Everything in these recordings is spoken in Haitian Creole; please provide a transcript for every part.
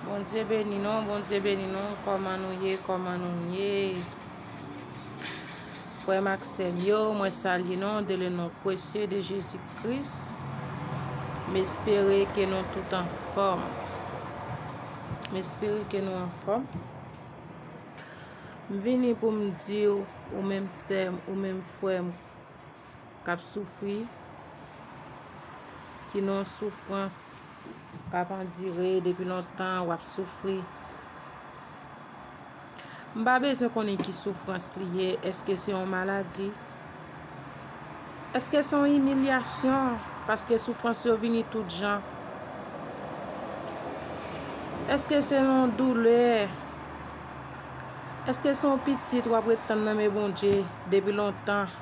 Bondye beni nou, Bondye beni nou, kòman nou ye, kòman nou ye, frè m ak sè m yo, mwen salye nou, de le non presye de Jezi Kris, m espere ke nou tout an fòm, m espere ke nou an fòm, m vini pou m di ou, ou menm sè m, ou menm frè m. k ap soufri, ki nan yon soufrans k ap andire depi lontan, w ap soufri. M pa bezwen konnen ki soufrans li ye, eske se yon maladi, eske se yon imilyasyon, paske soufrans yo vini tout jan, eske se yon doulè, eske se yon pitit w ap ret tann nan men Bondye depi lontan.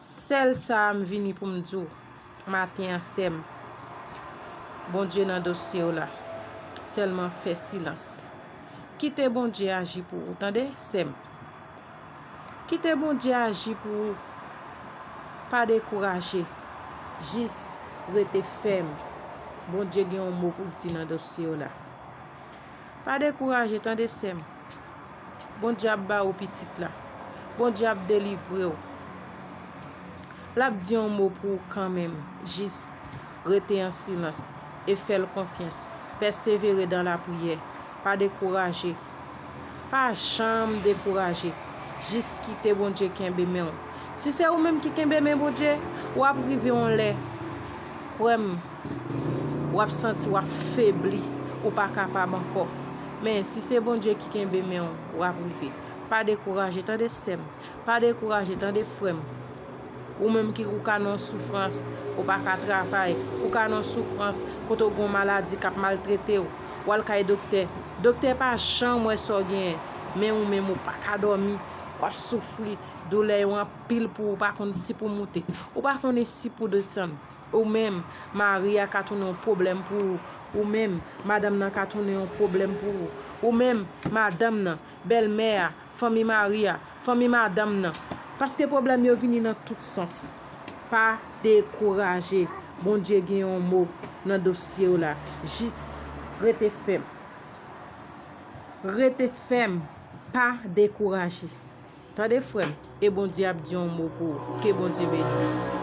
Sèl sa a m vini pou m di w maten an sè m, Bondye nan dosye w la. Sèlman fè silans. Kite Bondye aji pou ou tande sè m. Kite Bondye aji pou ou. Pa dekouraje. Jis rete fèm. Bondye gen yon mo pou l di nan dosye w la. Pa dekouraje tande sè m. Bondye ap ba ou pitit la. Bondye ap delivre ou. L ap di yon mo pou ou kanmenm. Jis rete an silans e fè l konfyans. Pèsevere dan lapriyè. Pa dekouraje. Pa janm dekouraje. Jis kite Bondye kenbe men ou. Si se ou menm ki kenbe men Bondye, w ap rive yon lè. Kwè m. wap santi wap febli ou pa kapab ankò men si se Bondye ki kenbe menw wap rive pa dekouraje tande sèm pa dekouraje tande frèm ou menm ki ou ka nan soufrans ou pa ka travay ou ka nan soufrans kote ou gon maladi kap maltretew wal kay doktè doktè pa janm wè sa w genyen men ou menm ou pa ka dòmi wap soufri doulè yo anpil pou ou pa konn si pou moute ou pa konnen si pou desann. Ou menm, mari a ka tounen yon pwoblèm pou ou. Ou menm, madanm nan ka tounen yon pwoblèm pou ou. Ou menm, madanm nan, bèlmè a, fanmi mari a, fanmi madanm nan. Paske pwoblèm yo vini nan tout sans. Pa dekouraje. Bondye gen yon mo nan dosye w la. Jis rete fèm. Rete fèm. Pa dekouraje. Tande frè m. E Bondye ap di yon mo pou ou. Ke Bondye beni w.